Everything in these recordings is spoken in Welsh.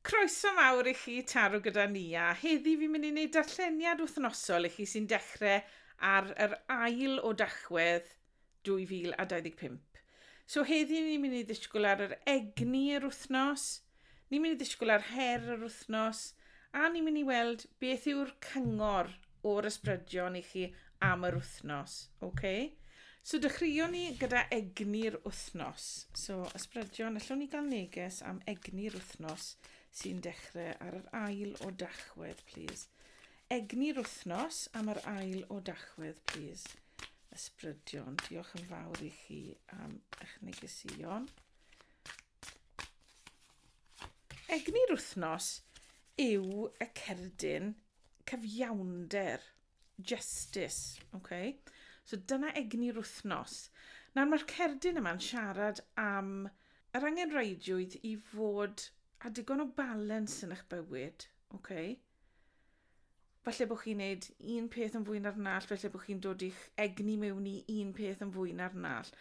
Croeso mawr i chi taro gyda ni a heddi fi'n mynd i wneud darlleniad wythnosol i chi sy'n dechrau ar yr ail o Dachwedd 2025. So heddi ni'n mynd i ddisgwyl ar yr egni yr wythnos, ni'n mynd i ddisgwyl ar her yr wythnos a ni'n mynd i weld beth yw'r cyngor o'r ysbrydion i chi am yr wythnos. Okay? So dechreuon ni gyda egni'r wythnos. So ysbrydion, allwn ni gael neges am egni'r wythnos sy'n dechrau ar yr ail o dachwedd, please. Egni'r wythnos am yr ail o dachwedd, please. Ysbrydion, diolch yn fawr i chi am eich negesuon. Egni'r wythnos yw y cerdyn cyfiawnder, justice, okay? So dyna egni'r wythnos. Nawr mae'r cerdyn yma'n siarad am yr angenrheidiwyd i fod a digon o balans yn eich bywyd, okay? Falle bod chi'n neud un peth yn fwy na'r nall, falle bod chi'n dod i'ch egni mewn i un peth yn fwy na'r nall.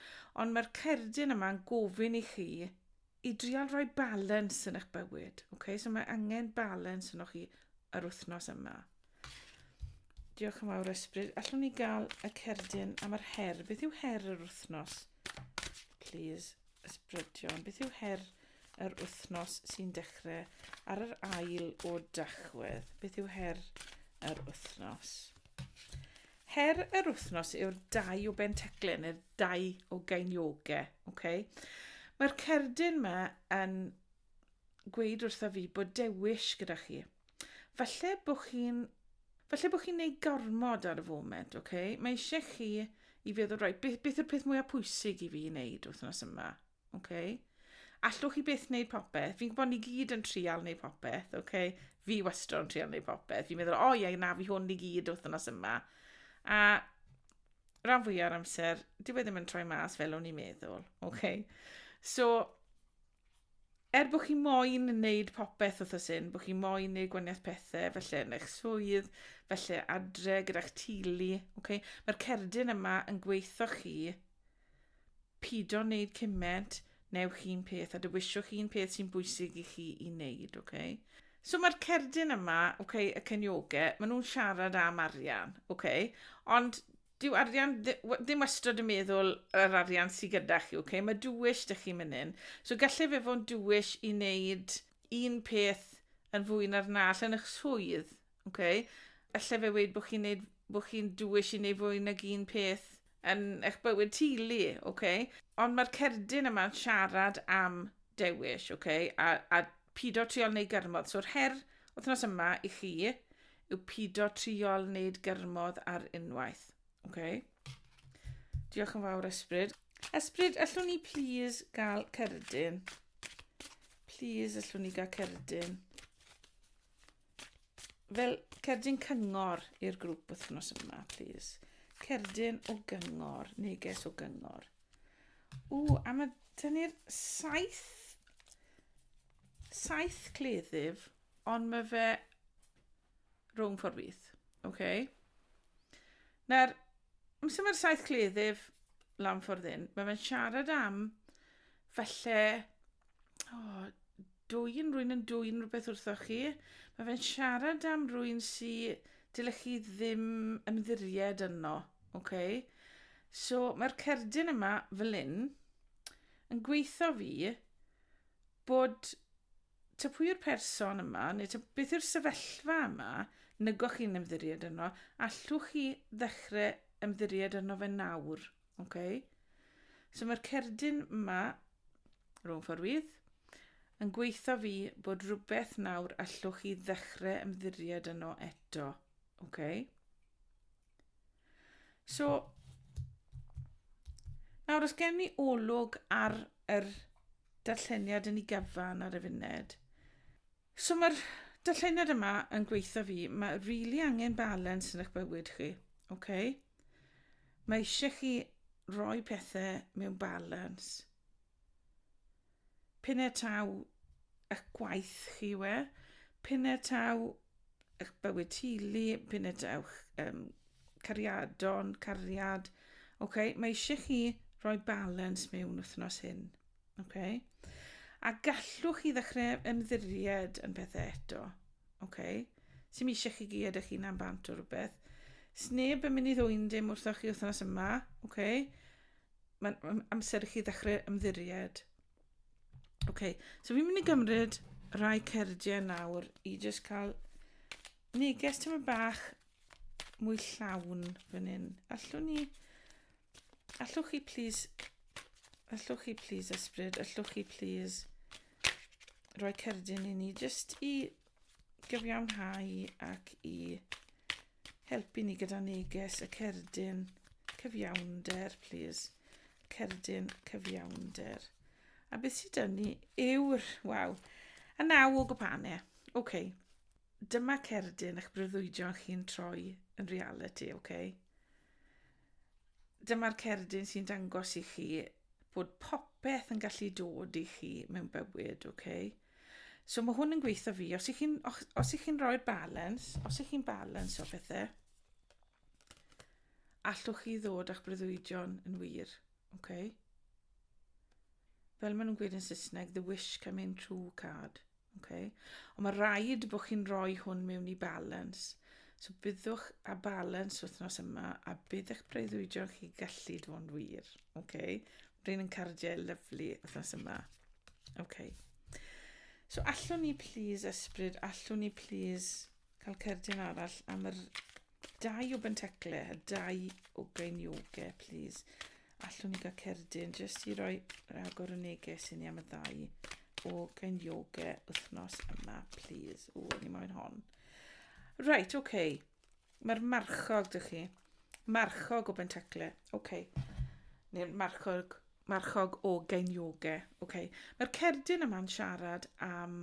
Ond mae'r cerdyn yma yn gofyn i chi i drial rhoi balans yn eich bywyd. Okay? So mae angen balans yn o'ch chi yr wythnos yma. Diolch yn fawr ysbryd. Allwn ni gael y cerdyn am yr her. Beth yw her yr wythnos? Please. Ysbrydion, beth yw her yr wythnos sy'n dechrau ar yr ail o Dachwedd? Beth yw her yr wythnos? Her yr wythnos yw'r dau o Benteclen, neu'r dau o Gainioge. Okay? Mae'r cerdyn yma yn gweud wrtho fi bod dewis gyda chi. Falle bod chi'n falle bod chi'n neud gormod ar y foment, oce? Okay? Mae eisiau chi i feddwl, roi, beth, beth yw'r peth mwyaf pwysig i fi wneud wythnos yma, oce? Okay? Allwch chi beth wneud popeth? Fi'n gwybod ni gyd yn trial wneud popeth, oce? Okay? Fi wastad yn trial wneud popeth. Fi'n meddwl, o oh, ie, na, fi hwn i gyd wythnos yma. A rhan fwy o'r amser, dyw e ddim yn troi mas fel o'n i'n meddwl, oce? Okay? So, er bod chi moyn wneud popeth wrth y syn, bod chi moyn wneud gwaniaeth pethau, felly yn eich swydd, felly adre gyda'ch tili, okay? mae'r cerdyn yma yn gweithio chi, pido wneud cyment, newch chi'n peth, a dywiswch chi'n peth sy'n bwysig i chi i wneud, okay? So mae'r cerdyn yma, okay, y cynioge, maen nhw'n siarad am arian, okay? ond Dyw arian ddim wastad yn meddwl yr arian sydd gyda chi, okay? mae dwyll dych chi'n mynd in. So gallai fe fo'n dwyll i wneud un peth yn fwy na'r nall yn eich swydd. Okay? Alla fe wneud bod chi'n neud, bod chi'n dwyll i wneud fwy nag un peth yn eich bywyd teulu, okay? ond mae'r cerdyn yma'n siarad am dewish, okay? a, a pido triol neu gyrmodd. So'r her wythnos yma i chi yw pido triol wneud gyrmodd ar unwaith. Okay. Diolch yn fawr, Esbryd. Esbryd, allwn ni please gael cerdyn? Please, allwn ni gael cerdyn? Fel cerdyn cyngor i'r grŵp wythnos yma, please. Cerdyn o gyngor, neges o gyngor. O, a mae dyn ni'r saith, saith cleddyf. Ond mae fe rhwng ffordd fydd. OK. Nawr, am sy'n mae'r saith cleddyf lan ffordd hyn, mae fe'n siarad am falle oh, dwy'n rwy'n yn dwy'n rhywbeth wrtho chi. Mae fe'n siarad am rwy'n si dylech chi ddim ymddiried yno. Okay? So mae'r cerdyn yma fel un yn gweithio fi bod ta pwy yw'r person yma, neu ta beth yw'r sefyllfa yma, nygoch chi'n ymddiried yno, allwch chi ddechrau ymddiried yno fe nawr. Okay? So mae'r cerdyn yma, rhwng fforwydd, yn gweithio fi bod rhywbeth nawr allwch chi ddechrau ymddiried yno eto. Okay? So, nawr os gen ni olwg ar yr darlleniad yn ei gyfan ar y funud. So mae'r darlleniad yma yn gweithio fi, mae rili really angen balans yn eich bywyd chi, oce? Okay? Mae eisiau chi roi pethau mewn balans. P'un-e taw ych gwaith chi yw e, p'un-e taw ych bywyd teulu, p'un-e taw'ch um, cariadon, cariad, okay? mae eisiau chi roi balans mewn wythnos hyn. Okay? A gallwch chi ddechrau ymddiried yn pethau eto. Okay? Sym eisiau chi gyd eich hunan bant o rhywbeth. Sneb yn mynd i ddwy'n dim wrthoch chi wythnos yma. Okay? mae'n amser i chi ddechrau ymddiried. OK, so fi'n mynd i gymryd rhai cerdiau nawr i jyst cael neges tyma bach mwy llawn fan hyn. Allwn ni... Allwch chi please... Allwch chi please ysbryd, allwch chi please rhoi cerdyn i ni jyst i gyfiawnhau ac i helpu ni gyda neges y cerdyn cyfiawnder, please. Cerdyn cyfiawnder. A beth sydd dyn ni yw'r... Waw. A naw o gwpanau. Oce. Okay. Dyma cerdyn eich breuddwydion chi'n troi yn reality, oce? Okay? Dyma'r cerdyn sy'n dangos i chi bod popeth yn gallu dod i chi mewn bywyd, oce? Okay? So mae hwn yn gweithio fi. Os ych chi'n os ych chi'n rhoi'r balance, os ych chi'n balance o bethau, allwch chi ddod â'ch breuddwydion yn wir. Okay? Fel maen nhw'n gweud yn Saesneg, the wish come in true card. Okay? Ond mae rhaid bod chi'n rhoi hwn mewn i balance. So byddwch a balance wythnos yma a bydd eich breuddwydion chi gallu dod yn wir. Okay? Rhain yn cardiau lyflu wythnos yma. OK. So allwn ni please ysbryd, allwn ni please cael cerdyn arall am yr dau o bentecle, y dau o gainioge, please. Allwn ni gael cerdyn, jyst i roi rhagor o neges i ni am y ddau o gainioge wythnos yma, please. O, ni moyn hon. Right, OK. Mae'r marchog, dych chi. Marchog o bentacle. Oce. Okay. Neu'r marchog, marchog o gainioge. Oce. Okay. Mae'r cerdyn yma'n siarad am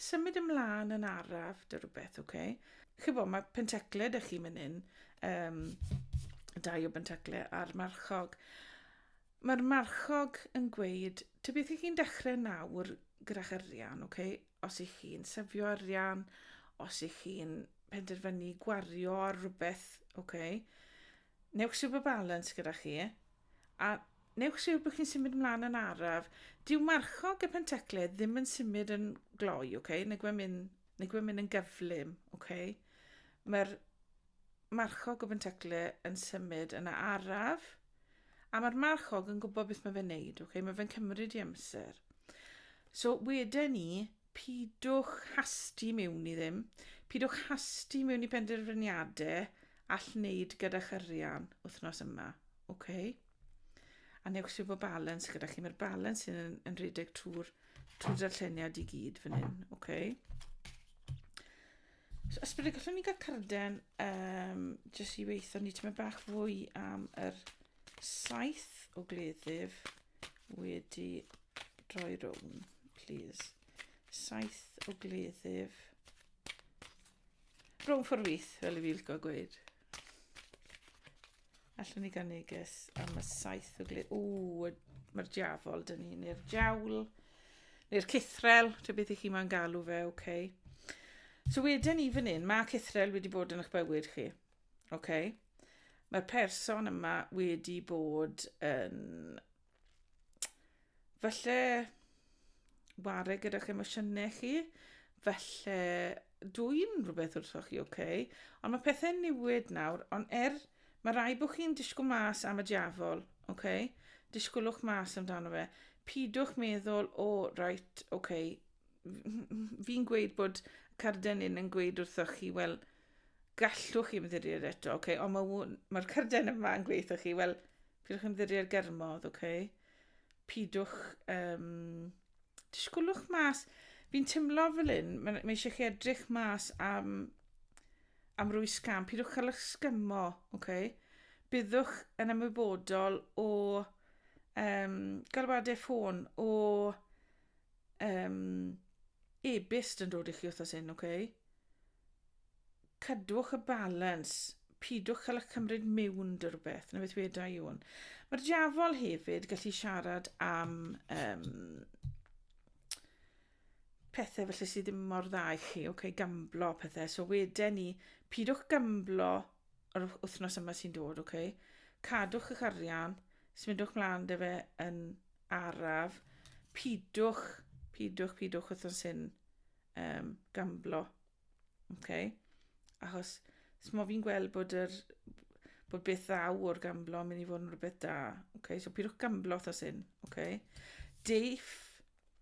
symud ymlaen yn araf, dy rhywbeth, oce. Okay. Chybo, mae pentacle dych chi mynd un. Um, dau o bentacle a'r marchog. Mae'r marchog yn gweud, ty beth ych chi'n dechrau nawr gyda'ch arian, oce? Okay? os ych chi'n sefio arian, os ych chi'n penderfynu gwario ar rhywbeth, oce, okay, newch siw bod balans gyda chi, a newch siw bod chi'n symud ymlaen yn araf. Dyw marchog y pentecled ddim yn symud yn gloi, oce, okay? neu gwe'n mynd, mynd yn gyflym, oce. Okay? Mae'r marchog o fenteclu yn symud yn araf, a mae'r marchog yn gwybod beth mae fe'n neud, okay? mae fe'n cymryd i amser. So wedyn ni, pidwch hasti mewn i ddim, pidwch hasti mewn i penderfyniadau all wneud gyda chyrian wythnos yma, okay? a newch sy'n bod balans gyda chi. Mae'r balans sy'n yn, yn rhedeg trwy'r trwy darlleniad i gyd fan hyn, okay? So, ysbryd, y gallwn ni gael carden um, jyst i weithio ni tyma bach fwy am yr saith o gleddyf wedi droi rownd, please. Saith o gleddyf. Rownd ffordd wyth, fel y fi licio gweud. Allwn ni gael neges am y saith o gled. O, mae'r diafol dyn ni, neu'r diawl, neu'r cythrel, dy beth i chi mae'n galw fe, oce. Okay. So wedyn ni fan hyn, mae cythrel wedi bod yn eich bywyd chi. Oce. Okay. Mae'r person yma wedi bod yn falle ware gyda'ch emosiynau chi, falle dwi'n rhywbeth wrthoch chi, oce, okay? ond mae pethau'n newid nawr, ond er, mae rai bod chi'n disgwyl mas am y diafol, oce, okay? disgwylwch mas amdano fe, pidwch meddwl, o, oh, right, oce, okay. fi'n gweud bod carden yn yn gweud wrthoch chi, wel, Gallwch chi ymddiried eto, ok, ond mae'r ma, ma cyrden yma yn gweithio chi, wel, pidwch ymddiried germodd, ok? Pidwch, um, disgwlwch mas. Fi'n tymlo fel un, mae, mae eisiau chi edrych mas am, am rwy sgam, pidwch cael eich sgymo, ok? Byddwch yn ymwybodol o um, galwadau ffôn, o um, e-byst yn dod i chi wrthos hyn, ok? Cadwch y balans, pidwch cael eich cymryd miwn dy rhywbeth, na beth weda i hwn. Mae'r diafol hefyd gallu siarad am um, pethau felly sydd ddim mor dda i chi, okay, gamblo pethau. So weda ni, pidwch gamblo yr wythnos yma sy'n dod, okay? cadwch eich arian, smidwch mlaen dy fe yn araf, pidwch, pidwch, pidwch wythnos hyn um, gamblo. Okay? Achos, mae fi'n gweld bod, yr, bod beth ddaw o'r gamblo yn mynd i fod yn rhywbeth da. Okay? So, pidwch gamblo thos hyn. Okay? Deif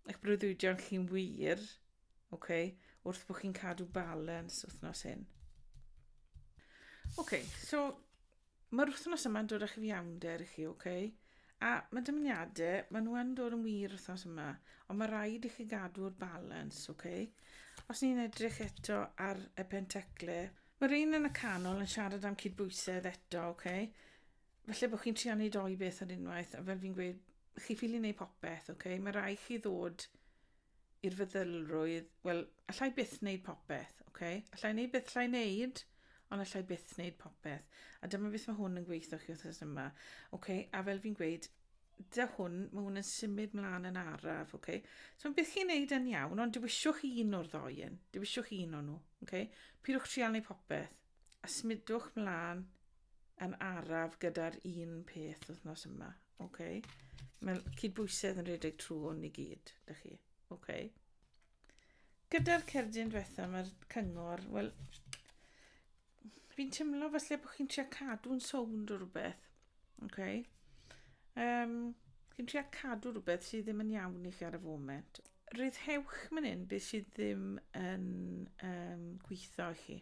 eich breuddwydion chi'n wir okay? wrth bod chi'n cadw balans wythnos hyn. Okay, so Mae'r wythnos yma'n dod â chyfiawnder i chi, ok? A mae dymuniadau, maen nhw yn dod yn wir wythnos yma, ond mae rhaid i chi gadw'r balans, ok? Os ni'n edrych eto ar y pentecle, mae'r un yn y canol yn siarad am cydbwysedd eto, ok? Felly bod chi'n trio wneud doi beth ar unwaith, a fel fi'n gweud, chi ffili wneud popeth, ok? Mae rai chi ddod i'r feddylrwydd, wel, allai byth wneud popeth, oce? Okay? Allai wneud beth allai wneud, ond allai byth wneud popeth. A dyma beth mae hwn yn gweithio chi wrth yma. Oce, okay? a fel fi'n gweud, da hwn, mae hwn yn symud mlaen yn araf, oce? Okay? So beth chi'n neud yn iawn, ond dywisiwch un o'r ddoi yn, dywisiwch un o'n nhw, oce? Okay? Pidwch trial neu popeth, a smudwch mlaen yn araf gyda'r un peth wythnos yma, OK. Mae cydbwysedd yn rhedeg trwy hwn i gyd, da chi. OK. Gyda'r cerdyn diwetha, mae'r cyngor, wel, fi'n teimlo falle bod chi'n trio cadw'n sownd o rhywbeth. OK. Um, chi'n trio cadw rhywbeth sydd ddim yn iawn i chi ar y foment. Rhyddhewch mynd hyn beth sydd ddim yn um, gweithio i chi.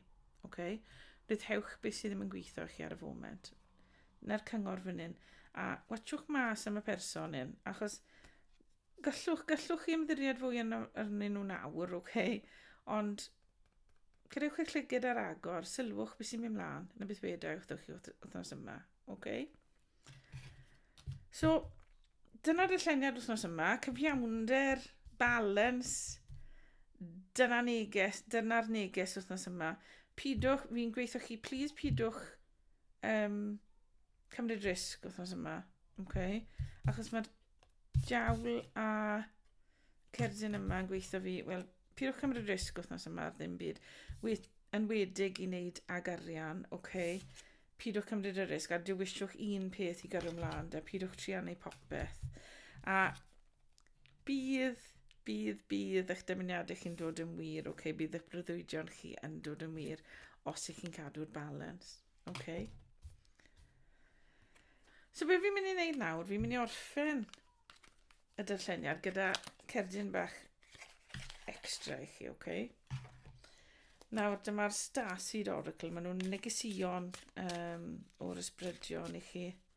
OK. Rhyddhewch beth sydd ddim yn gweithio i chi ar y foment. neu'r cyngor fan hyn, a watchwch mas am y person hyn, achos gallwch, gallwch chi ymddiried fwy yn arnyn nhw'n awr, oce, okay? ond cadewch eich llygyd ar agor, sylwch beth sy'n mynd mlaen, na beth wedau wrthych chi wythnos yma, oce? Okay? So, dyna'r dyllenniad wythnos yma, cyfiawnder, balance, dyna'r neges, dyna'r neges wythnos yma. Pidwch, fi'n gweithio chi, please pidwch um, cymryd risg wythnos yma. Okay. Achos mae'r diawl a cerdyn yma yn gweithio fi, wel, pidwch cymryd risg wythnos yma ar ddim byd. Wyth, yn wedig i wneud ag arian, oce. Okay. Pidwch cymryd y risg a dywisiwch un peth i gyrru ymlaen, da pidwch triannu popeth. A Bydd, bydd, bydd eich dymuniadau chi'n dod yn wir, oce? Okay? Bydd eich breuddwydion chi yn dod yn wir os ych chi'n cadw'r balans, oce? Okay? So be fi'n mynd i wneud nawr, fi'n mynd i orffen y darlleniad gyda cerdyn bach extra i chi, oce? Okay? Nawr, dyma'r Starseed Oracle. Maen nhw'n negesion um, o'r ysbrydion i chi. Oce?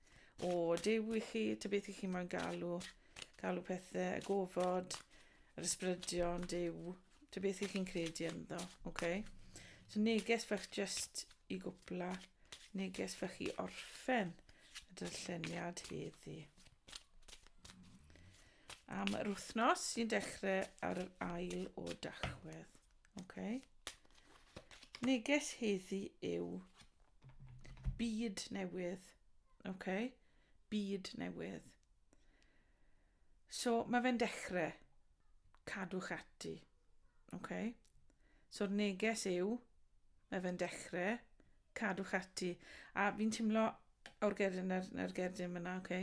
O, Duw i chi, ta beth i chi mae'n galw, galw pethau, y gofod, yr ysbrydion, Duw, ta beth i chi'n credu ynddo, oce? Okay? So neges fach just i gwpla, neges fach i orffen y darlleniad heddi. Am yr wythnos sy'n dechrau ar yr ail o dachwedd. Oce. Neges heddi yw byd newydd. Oce. Byd newydd. So mae fe'n dechrau. Cadwch ati. Oce. So'r neges yw mae fe'n dechrau. Cadwch ati. A fi'n timlo o'r gerdyn na'r, na'r gerdyn fyna, oce.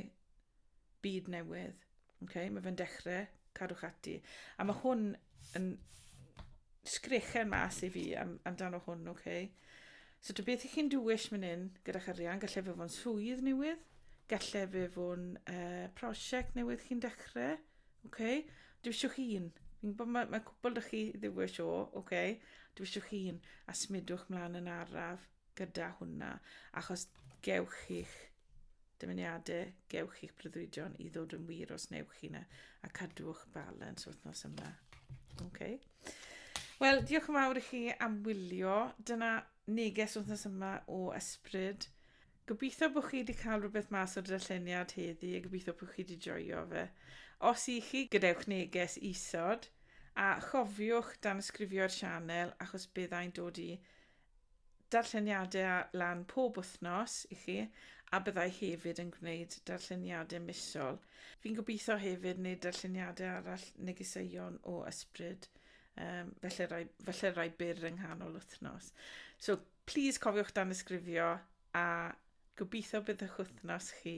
Byd newydd. Okay, mae fe'n dechrau, cadwch ati. A mae hwn yn sgrechen mas i fi am, amdano hwn, oce? Okay? So dy beth i chi'n dwyll mynd hyn gyda'ch arian, gallai fe fo'n swydd newydd, gallai fe fo'n uh, prosiect newydd chi'n dechrau, oce? Okay? Dwi eisiau chi un. Fi'n gwybod mae, mae cwbl dych chi ddiwyll o, oce? Okay? Dwi eisiau chi un, a smidwch mlaen yn araf. gyda hwnna, achos gewch chi'ch dymuniadau, gewch chi'ch breuddwydion i ddod yn wir os newch chi yna, a cadwch balans wrth nos yma. Okay. Wel, diolch yn fawr i chi am wylio. Dyna neges wrthnos yma o ysbryd. Gobeithio bod chi wedi cael rhywbeth mas o'r darlleniad heddi a gobeithio bod chi wedi joio fe. Os i chi, gadewch neges isod a chofiwch dan ysgrifio'r sianel achos byddai'n dod i darlleniadau ar lan pob wythnos i chi, a byddai hefyd yn gwneud darlleniadau misol. Fi'n gobeithio hefyd wneud darlleniadau arall negeseuon o ysbryd, um, felly, rai, felly rai byr yng nghanol wythnos. So, please cofiwch dan ysgrifio a gobeithio bydd eich wythnos chi